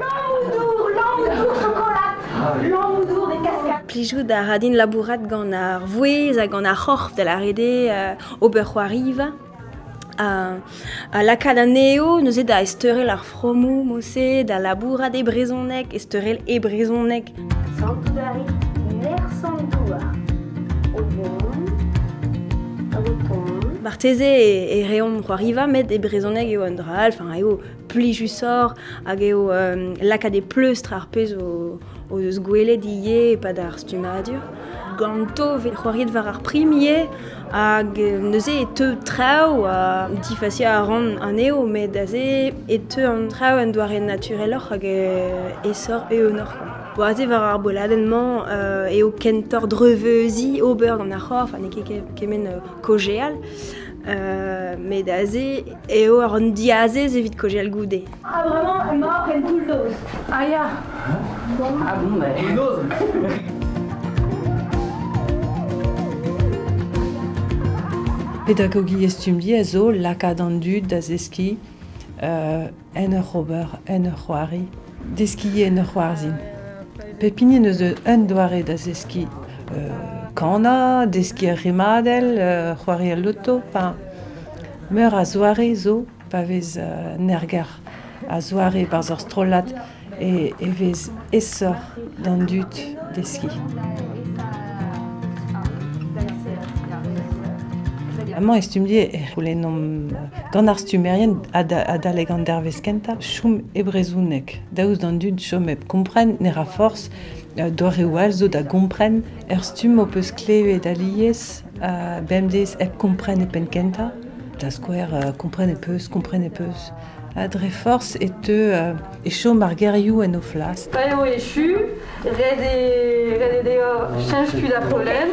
Lamm-dour, lamm-dour chokolad, lamm-dour des cascades. Plijout a ra din labourat gant ar vouezh ha gant ar c'horf, da lâret eo, ober c'hoariva. Ha, ha lakaat anezho neuze da ezteurel ar fromoù, mod-se da labourat e brezhoneg, ezteurel e brezhoneg. Santout a rit nerzh an douar o vont hag o tont. Marteze e, reomp c'hoariva, met e brezhoneg eo un dra all, enfin eo plijusoc'h hag eo lakaat e pleustr ar pezh o, o eus gwelet ivez e-pad ar stummadur. Ganto 'vez c'hoariet war ar prim ivez hag neuze e teu traoù ha difaziañ a ran anezho met aze e teu an traoù en doare natureloc'h hag aesoc'h eeunoc'h. Bo aze war ar boladenn-mañ eo kentoc'h dreuzveuziñ ober gant ar c'horf ha n'eo ket kement kaozeal met aze eo an diazez evit kaozeal goude. Ah, vraiment, elle mort, elle bulldoze. Ah, ya. Ah bon, ouais. Pedagogiezh Stumdi a zo lakaat an dud da zeskiñ uh, en ur ober, en ur c'hoari, deskiñ en ur c'hoarzhin. Pep hini eus un doare da zeskiñ uh, kana, deskiñ ur rimadell, uh, c'hoari al loto, enfin, meur a zoare zo Pa vez an erger a-zoare barzh ur strollad e vez aesoc'h d'an dud deskiñ. Amañ e stumm-die e c'houlennomp gant ar stummerien adalek an dervezh kentañ chom e brezhoneg, daoust d'an dud chom hep kompren ne ra forzh doareoù all zo da gompren. Er stumm ho peus klevet alies Bemdez hep kompren e penn-kentañ, da skouer kompren e peus, kompren e peus. Ha dre forzh e teu e chom ar gerioù en o flas. Pa eo echu, ret eo deoc'h cheñch tud ar pollen.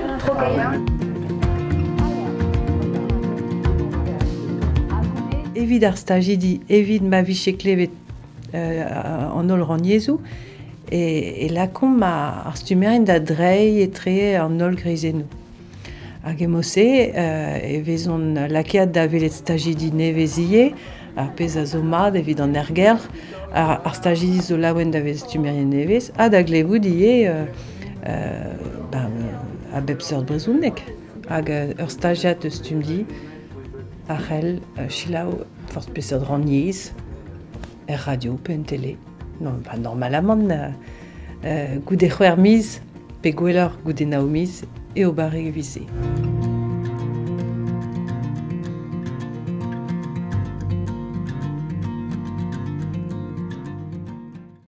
Evit ar stajidi, evit ma vije klevet an holl rannyezhoù e, lakaomp ar stummerien da dreiñ etre an holl greizennoù. Hag emo-se e vezont lakaet da welet stajidi nevez ivez, ar pezh a zo mat evit an ergelc'h, ar stajidi zo laouen da vezañ stummerien nevez ha da glevout ivez ben, a bep seurt brezhoneg. Hag ur stajiad eus Stumdi a c'hell selaou forzh peseurt rannyezh, er radio pe en tele. Non, pas normalamant euh, goude c'hwer miz, pe gwelloc'h goude nao miz, eo barrek vise.